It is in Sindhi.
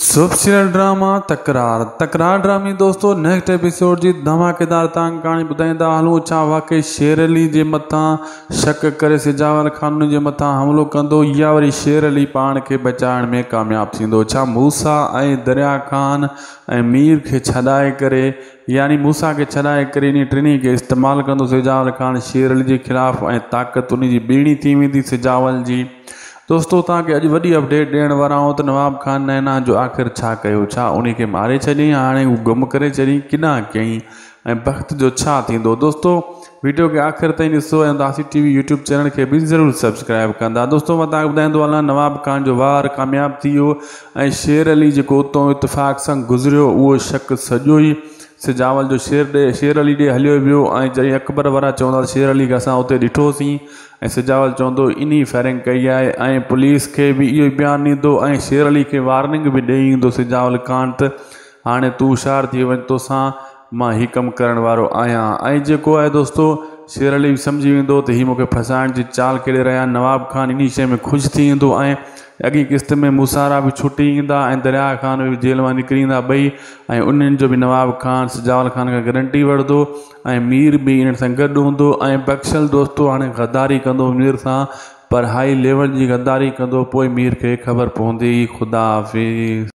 سوفسيرل ڊراما تڪرار تڪرار ڊرامي دوستو نيڪسٽ ايپيسوڊ جي ڌماڪيدار تانگ ڪهاڻي ٻڌائيندا هلون ڇا واقعي شير علي جي مٿان شڪ ڪري سجاول خانن جي مٿان حملو ڪندو يا وري شير علي پاڻ کي بچائڻ ۾ ڪامياب ٿيندو ڇا موسيٰ ۽ دريا خان ۽ مير کي ڇڏائي ڪري يعني موسيٰ کي ڇڏائي ڪري انهي ٽنهي کي استعمال ڪندو سجاول خان شيرعلي جي خلاف ۽ طاقت انهي جي ٻيڻي ٿي ويندي سجاول جي دوستو توهان کي اڄ وڏي اپڊيٽ ڏيڻ وارا آهيون ته نواب خان نينا جو آخر ڇا ڪيو ڇا انهي کي ماري ڇڏيائين هاڻي هو گم ڪري ڇڏيائين ڪيڏانهن ڪيائين ۽ بخت جو ڇا ٿيندو دوستو ويڊيو کي آخر تائين ڏسو ۽ Udasi T V YouTube channel کي به ضرور سبسڪرائيب ڪندا دوستو مان تان ٻڌائيندو هلان نواب خان جو وار ڪامياب ٿي ويو ۽ شير علي جيڪو اتو اتفاق سان گذريو اهو شڪ سڄو ئي سجاول جو شير ڏي شير علي ڏي هليو ويو ۽ جڏهن اڪبر وارا چوندا شير علي کي اسان اتي ڏٺو سين ۽ سجاول چوندو انهي فائرنگ ڪئي آهي ۽ پوليس کي به اهو ئي بيان ڏيندو ۽ شير علي کي وارننگ به ڏئي ايندو سجاول خان ته هاڻي تون هوشيار ٿي وڃ توسان مان هي ڪم ڪرڻ وارو آهيان ۽ جيڪو آهي دوستو شير علي به سمجهي ويندو ته هي مون کي ڦاسائڻ جي چال کيڏي رهيا آهن نواب خان انهي شيء ۾ خوش ٿي ايندو ۽ اڳئين قسط ۾ موسارا به ڇٽي ايندا ۽ درياء خان به جيل مان نڪري ايندا ٻئي ۽ انهن جو به نواب خان سجاول خان کان گرنٽي وٺدو ۽ مير به انهن سان گڏ هوندو ۽ بخشل دوستو هاڻي غداري ڪندو مير سان پر هائي ليول جي غداري ڪندو پوء مير کي خبر پوندي خدا حافظ.